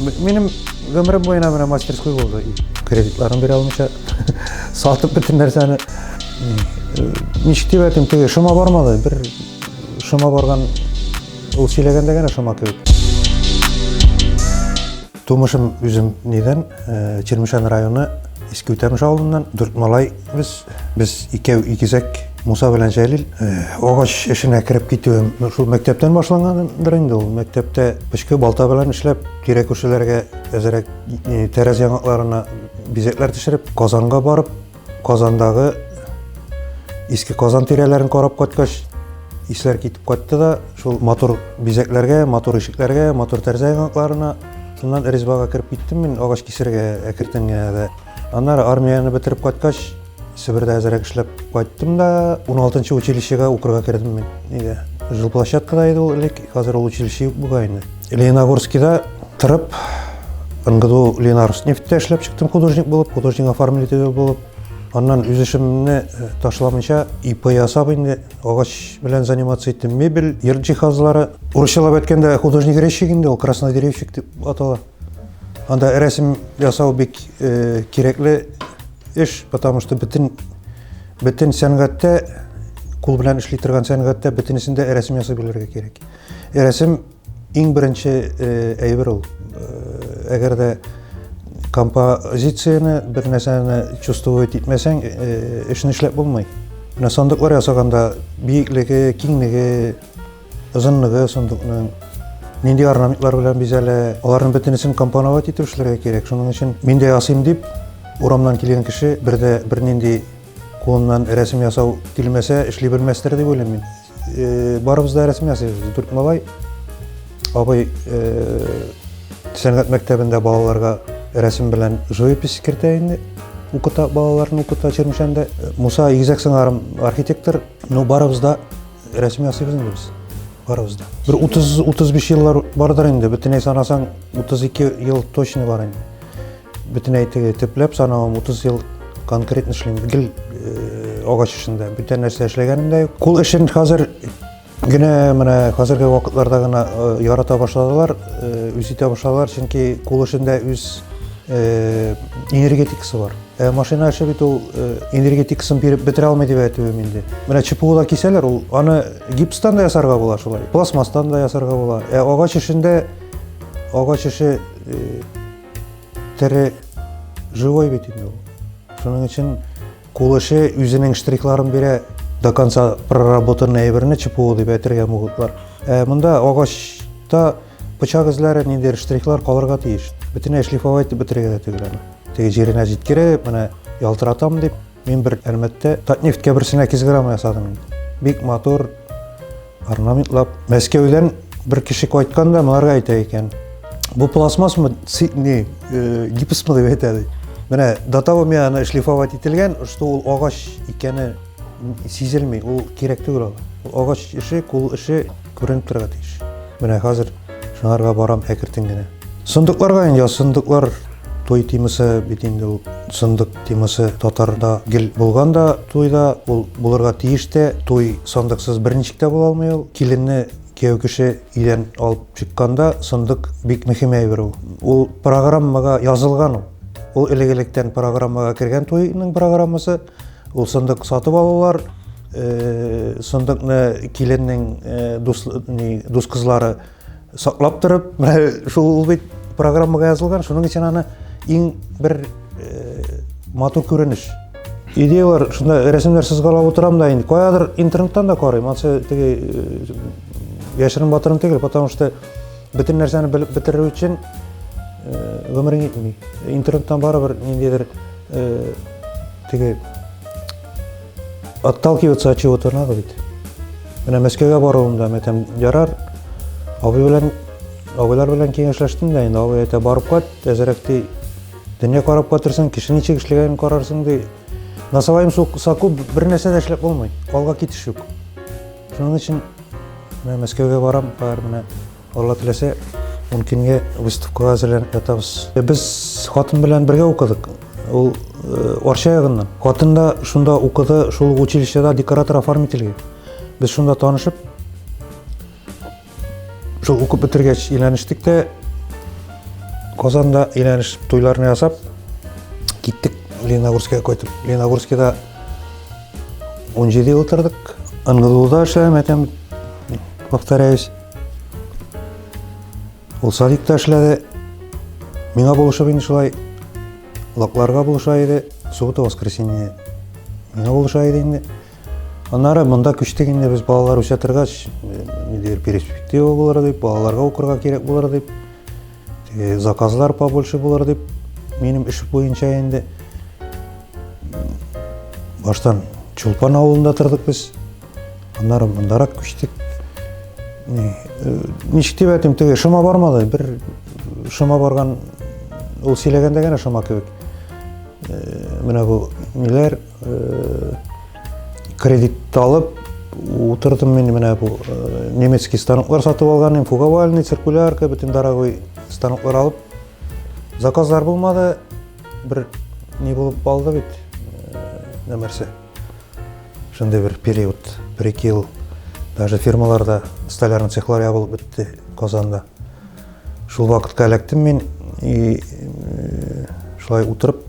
Минем гомерем буена менә мастерской булды. Кредитларын бирә алмыйча сатып бөтен нәрсәне ничек дип әйтим, теге шома бармады. Бер шома барган ул сөйләгәндә генә шома кебек. Тумышым үзем нидән, Чермешән районы Иске Үтәмеш авылыннан, дүрт малай Без без икәү игезәк Муса белән Җәлил э, агач эшенә кереп китүем шул мәктәптән башлангандыр инде ул. Мәктәптә пычкы балта белән эшләп, тирә күршеләргә әзерәк э, тәрәз яңакларына бизәкләр төшереп, Казанга барып, Казандагы иске Казан тирәләрен карап кайткач, исләр китеп кайтты да, шул матур бизәкләргә, матур ишекләргә, матур тәрәзә яңакларына шуннан Ризбага кереп киттем мин агач кисергә әкертенгә дә. Аннары армияне бетереп кайткач, Себердә әзрәк эшләп кайттым да, 16-нчы училищега укырга кердем мин. Нигә? Жилплощадкада иде ул элек, хәзер ул училище юк бугай инде. Лениногорскида торып, НГДУ Ленарснефтьтә эшләп чыктым художник булып, художник оформителе булып. Аннан үз эшемне э, ташламыйча ИП ясап инде агач белән заниматься иттем. Мебель, йорт җиһазлары. Урысчалап әйткәндә художник-резчик инде ул, краснодеревщик дип атала. Анда рәсем ясау бик кирәкле эш, потому что бөтен бөтен сәнгатьтә кул белән эшли торган сәнгатьтә бөтенесендә рәсем ясап белергә кирәк. Рәсем иң беренче әйбер ул. Әгәр дә композицияне бер нәрсәне чувствовать итмәсәң, эшне эшләп булмый. Менә сандыклар ясаганда биеклеге, киңлеге, озынлыгы сундукның нинди орнаментлар белән бизәлә аларның бөтенесен компоновать итеп эшләргә кирәк шуның өчен мин дә ясыйм дип урамнан килгән кеше бер дә бернинди кулыннан рәсем ясау килмәсә эшли белмәстер дип уйлыйм мин э, барыбыз да рәсем ясыйбыз дүрт малай абый э, сәнгать мәктәбендә балаларга рәсем белән живопись кертә инде укыта балаларны укыта чермешәндә муса игезәк сыңарым архитектор ну барыбыз да рәсми ясыйбыз инде без барыбыз да бер утыз утыз биш еллар бардыр инде бөтенләй санасаң утыз ике ел точно бар инде бөтенләй теге төпләп санавым утыз ел конкретно эшлим гел э, агач эшендә бүтән нәрсә эшләгәнем дә юк кул эшен хәзер генә менә хәзерге вакытларда гына э, ярата башладылар э, үз итә башладылар чөнки кул эшендә үз энергетикасы бар Э, машина эше бит ул э, энергетикасын биреп бетерә алмый дип әйтүем инде менә чпулар кисәләр ул аны гипстан да ясарга була шулай пластмасстан да ясарга була ә агач эшендә агач эше э, тере живой бит инде ул шуның өчен кул эше үзенең штрихларын бирә до конца проработанный әйберне чпу дип әйтергә могутлар ә монда агачта Пычак эзләре ниндидер штрихлар калырга тиеш. Бөтенләй шлифовать итеп бетерергә дә түгел аны. Теге җиренә җиткереп, менә ялтыратам дип, мин бер Әлмәттә Татнефть кәберсенә кизграмма ясадым инде. Бик матур орнаментлап. Мәскәүдән бер кеше кайткан да моңарга әйтә икән. Бу пластмассмы, не, э, гипсмы дип әйтә ди. Менә до того мя аны шлифовать ителгән, что ул агач икәне сизелми, ул кирәк түгел ул. Агач эше, кул эше Күренеп торырга тиеш. Менә хәзер шыңарга барам әкертен генә. Сындыкларга инде сындыклар той темасы бит инде ул сындык темасы татарда гел булган да туйда ул булырга тиеш тә туй сандыксыз берничек тә була алмый ул киленне кияү кеше өйдән алып чыкканда сындык бик мөһим әйбер ул ул программага язылган ул ул элек электән программага кергән туйның программасы Ул сындык сатып алулар, сындыкны киленнең дус, дус кызлары саклап торып, шул бит программага язылган, шуның өчен аны иң бер матур күренеш идеялар шунда рәсемнәр сызгалап отырам да инде каядыр интернеттан да карыйм ансы теге яшерен батырым түгел потому что Бөтен нәрсәне белеп бетерү өчен гомерең итми. Интернеттан барыбер ниндидер теге отталкиваться от чего-то надо бит. Менә Мәскәүгә баруымда мәтәм ярар. Абый белән абыйлар белән киңәшләштем дә инде абый әйтә барып кайт, әзрәк ди. Дөнья карап кайтырсың, кеше ничек эшләгәнен карарсың ди. Насалаем соку бер нәрсә дә эшләп булмый. Алга китеш юк. Шуның өчен менә Мәскәүгә барам, бар менә Алла теләсә, ун көнгә выставкага әзерләнеп ятабыз. Без хатын белән бергә укыдык. Ул э, Арча ягыннан. Хатын да шунда укыды, шул училищеда декоратор-оформительгә. Без шунда танышып, Шул укып бетергәч өйләнештек тә, Казанда өйләнеш туйларны ясап, киттек Леногорскига кайтып. Леногорскида 17 ел тордык. НГДУда эшләдем, әтәм, повторяюсь. Ул садикта эшләде. Миңа булышып инде шулай лакларга булыша иде. Суббота, воскресенье. Миңа булыша иде инде. Аннары монда күчтек инде без балалар үсә торгач, ниндидер перспектива булыр дип, балаларга укырга кирәк булыр дип, теге заказлар побольше булыр дип, минем эш буенча инде баштан Чулпан авылында тордык без. Аннары мондарак күчтек. Ничек дип әйтим, теге шома бармады. Бер шома барган, ул сөйләгәндә генә шома кебек. Менә бу ниләр Кредит алып утырдым мин менә бу немецкий станоклар сатып алган идем, фуговальный, циркулярка, бөтен дорогой станоклар алып. Заказлар булмады. Бер не булып калды бит. Нәрсә? Шундый бер период, бер ел даже фирмаларда столярный цехлар ябылып бетте Казанда. Шул вакытка эләктем мин и шулай утырып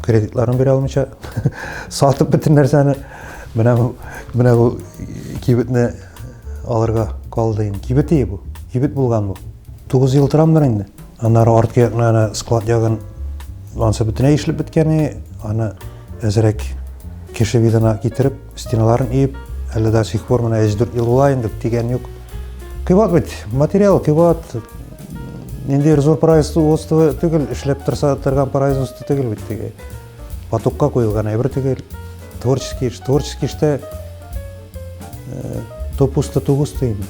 кредитларын бирә алмыйча сатып бөтен нәрсәне менә бу менә бу кибетне алырга калды инде кибет ие бу кибет булган бу тугыз ел торамдыр инде аннары арткы якны ана склад ягын анысы бөтенләй эшләп беткәне аны Әзрәк кеше видына китереп, стеналарын иеп, әле до сих пор менә 3-4 ел була инде, тигән юк. Кыйбат бит, материал кыйбат. Нинди зур производство түгел, эшләп торса торган производство түгел бит теге. Потокка куелган әйбер түгел. Творческий эш, творческий эштә То пусто, то густо инде.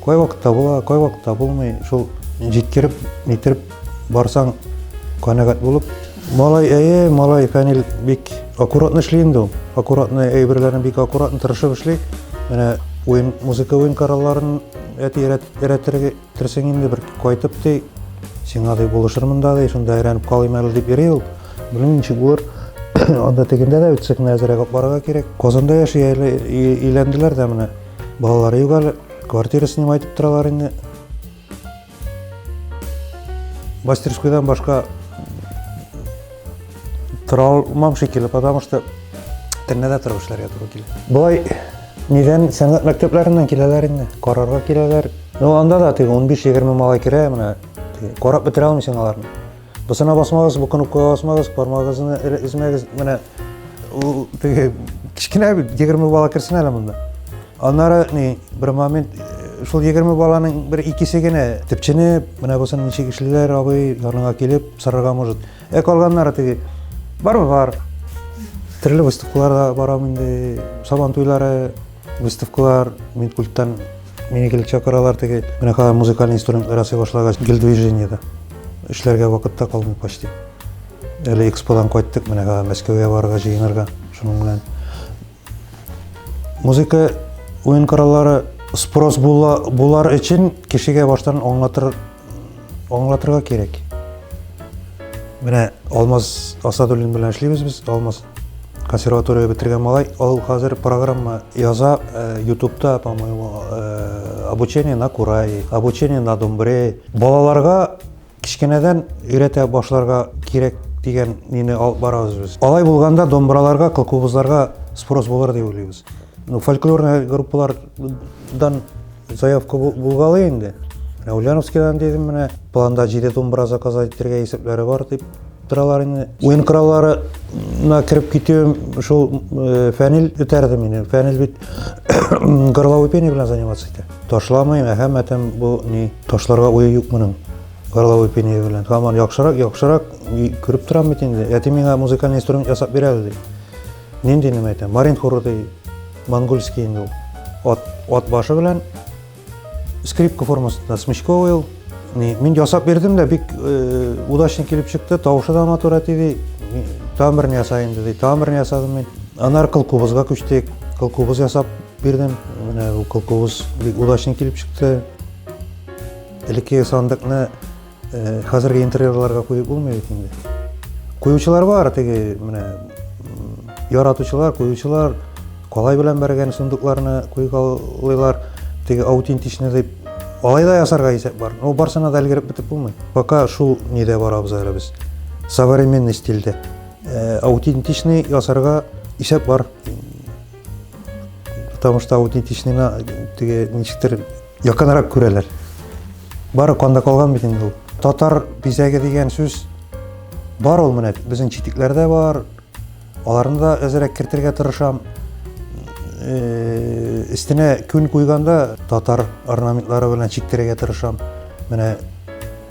Кай вакыт табыла, кай вакыт табылмый, шул җиткереп, нитереп барсаң, канәгать булып. Малай, әйе, малай Фәнил бик аккуратно эшли инде ул. Аккуратно әйберләрен бик аккуратно тырышып эшли. Менә уен, музыка уен коралларын әти өйрәтергә Терсең инде бер кайтып ди, сиңа ди булышырмын да ди, шунда әйләнеп калыйм әле дип йөри ул. Белмим ничек булыр. Анда тегендә дә үтсә генә әзрәк алып барырга кирәк. Казанда яши әле өйләнделәр дә менә. Балалары юк әле. Квартира снимать итеп торалар инде. Мастерскойдан башка Тора алмам шикелле, потому что тәннәдә торып эшләргә туры килә. Болай нидән сәнгать мәктәпләреннән киләләр инде, карарга киләләр. Ну анда да теге 15-20 малай керә, менә карап бетерә алмыйсың аларны. Бусына басмагыз, бу кнопкага басмагыз, бармагызны измәгез, менә ул теге кечкенә 20 бала керсен әле монда. Аннары ни бер момент шул 20 баланың бер икесе генә төпченеп, менә булсын ничек эшлиләр, абый яныңа килеп сорарга может. Ә калганнары теге бар бар. Төрле выставкаларда барам инде. Сабан туйлары, выставкалар, мин культтан мине килеп чакыралар теге. Менә хәзер музыкаль инструмент ярасый башлагач, гел движениедә. Эшләргә вакытта калмый почти. Әле эксподан кайттык, менә хәзер Мәскәүгә барырга җыенырга шуның белән. Музыка уен кораллары спрос була, булар өчен кешегә баштан аңлатыр, аңлатырга кирәк. Менә Алмаз Асадуллин белән эшлибез без. Алмаз консерватория бетергән малай. Ул хәзер программа яза э, ютубта, по-моему, э, обучение на курае, обучение на домбре. Балаларга Кечкенәдән өйрәтә башларга кирәк дигән мине алып барабыз без. Алай булганда домбыраларга, кылкубызларга спрос булыр дип уйлыйбыз. Ну, фольклорный группалардан заявка булгалы инде. Менә Ульяновскидан дидем менә, планда 7 домбыра заказать итәргә исәпләре бар дип торалар инде. Уен коралларына кереп китүем шул э, Фәнил үтәрде мине. Фәнил бит горловой пение белән заниматься итә. Ташламыйм, әһәмәтем бу ни? Ташларга уе юк моның. Горловой пение белән. Хаман яхшырак, яхшырак күреп торам бит инде. Әти миңа музыкальный инструмент ясап бирә әле. Нинди нәмә әйтә? Марин хоры ди. Монгольский инде ул. Ат, ат башы белән скрипка формасында смычковый ул. Ни, мин ясап бирдем дә бик э, удачно килеп чыкты. Тавышы да матур әти ди. Тамырны ясай инде ди. Тамырны ясадым мин. Анар кылкубызга күчтек. Кылкубыз ясап Бирдем, менә бу кылкуыз бик удачный килеп чыкты. Элеккеге сандыкны э, хәзерге интерьерларга куеп булмый бит инде. Куючылар бар, теге менә яратучылар, куючылар калай белән бәргән сундукларны куеп алыйлар. Теге аутентичный дип алай да ясарга исәп бар. Ну, барсына да өлгереп бетеп булмый. Пока шул нидә барабыз әле без. Современный стильдә. Э, аутентичный ясарга исәп бар. потому что аутентичныйны теге ничектер якынрак күрәләр бары канда калган бит инде ул татар бизәге дигән сүз бар ул менә безнең читекләрдә бар аларны да әзерәк кертергә тырышам өстенә күн куйганда татар орнаментлары белән чиктергә тырышам менә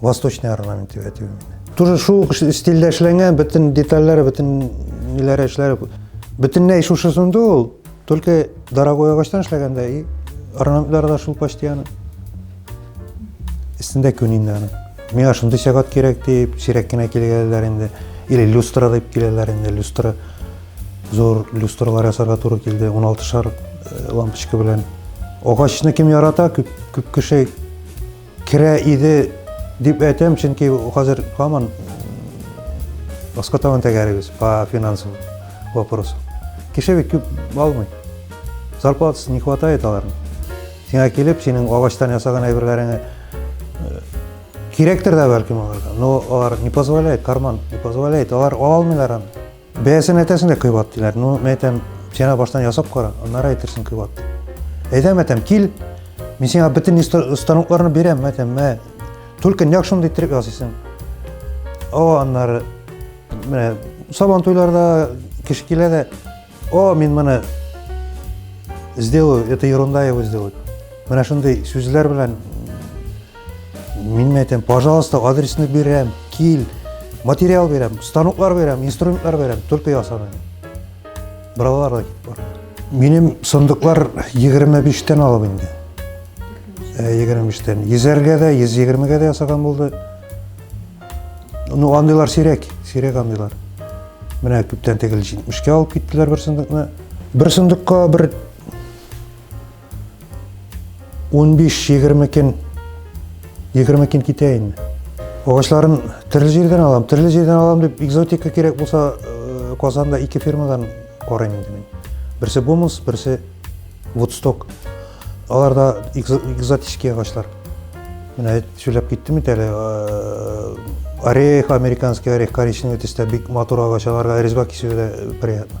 Восточный орнамент дип әйтү. Тоже шул стильдә эшләнгән, бөтен детальләре, бөтен ниләре эшләре бөтенләй шушысында ул, только дорогой агачтан эшләгәндә и орнаментлары да шул почти аны. Истендә күн инде аны. Миңа шундый сәгать кирәк дип, сирәк кенә килгәннәр инде. Или люстра дип киләләр инде, люстра. Зур люстралар ясарга туры килде, 16 шар э, лампочка белән. Агачны кем ярата, күп, күп кеше Керә иде дип әйтәм, чөнки хәзер һаман баска табан тәгәрибез по финансам вопросу. Кеше бит күп алмый. Зарплатасы не хватает аларның. Сиңа килеп, синең агачтан ясаган әйберләреңә э, кирәктер дә бәлкем аларга, но алар не позволяет, карман не позволяет, алар ала алмыйлар аны. Бәясен әйтәсең дә кыйбат диләр. Ну, мен әйтәм, син баштан ясап кара, аннары әйтерсең кыйбат. Әйдәм әйтәм, кил, мин сиңа бөтен станокларны бирәм, әйтәм, мә, только нәк шундый иттереп ясыйсың. О, аннары, менә, сабан туйларда кеше килә дә, о, мин моны сделаю, это ерунда его сделать. Менә шундый сүзләр белән Мин әйтәм, пожалуйста, адресны бирәм, кил, материал бирәм, станоклар бирәм, инструментлар бирәм, только ясамыйм. Балалар да китеп барды. Минем сындыклар 25-тән алып инде. 25-тән. Э, Йөзәргә дә, 120-гә дә ясаган булды. Ну, андыйлар сирәк, сирәк андыйлар. Менә күптән тегел 70-кә алып киттеләр бер сындыкны. Бер сындыкка бер 15-20 көн 20 көн китә инде. Агачларын төрле җирдән алам, төрле җирдән алам дип экзотика кирәк булса, э, Казанда ике фирмадан карыйм инде мин. Берсе Бомус, берсе Woodstock. Алар да экзотический агачлар. Менә сөйләп киттем бит әле. Э, орех, американский орех, коричневый төстә бик матур агач, аларга резьба кисүгә дә приятно.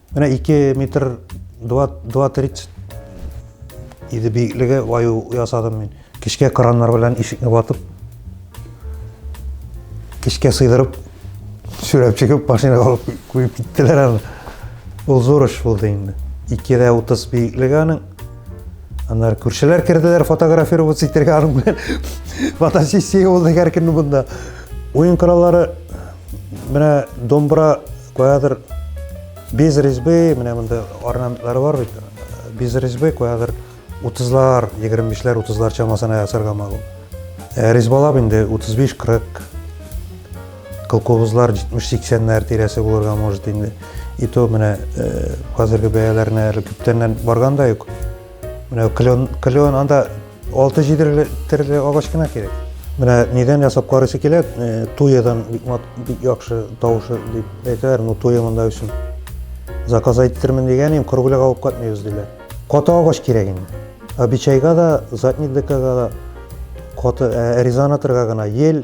Менә 2 метр 2-3 иде биеклеге ваю ясадым мин. Кечкә краннар белән ишекне ватып, кечкә сыйдырып, сүрәп чыгып, машинага алып куеп киттеләр аны. Ул зур эш булды инде. 2-30 биеклеге аның. Аннары күршеләр керделәр фотографироваться итәргә аның белән. Фотосессия булды һәркемнең монда. Уен кораллары менә домбра Каядыр без резьбы, менә монда орнаментлары бар бит. Без резьбы каядыр 30-лар, 25-ләр, 30-лар чамасына ясарга мәгълүм. Ә резьбалап инде 35-40 колхозлар 70-80-ләр тирәсе булырга может инде. И то менә хәзерге бәяләренә әле күптәннән барган да юк. Менә клен, клен анда 6-7 төрле агач кына кирәк. Менә нидән ясап карыйсы килә, э, туядан бик мат бик яхшы тавышы дип әйтәләр, ну туя монда өчен. Заказ әйттермен дигәнем, кыргүләк алып кайтмыйбыз диләр. Каты агач кирәк инде. Обичайга да, задник декага да каты э, резонаторга гына ел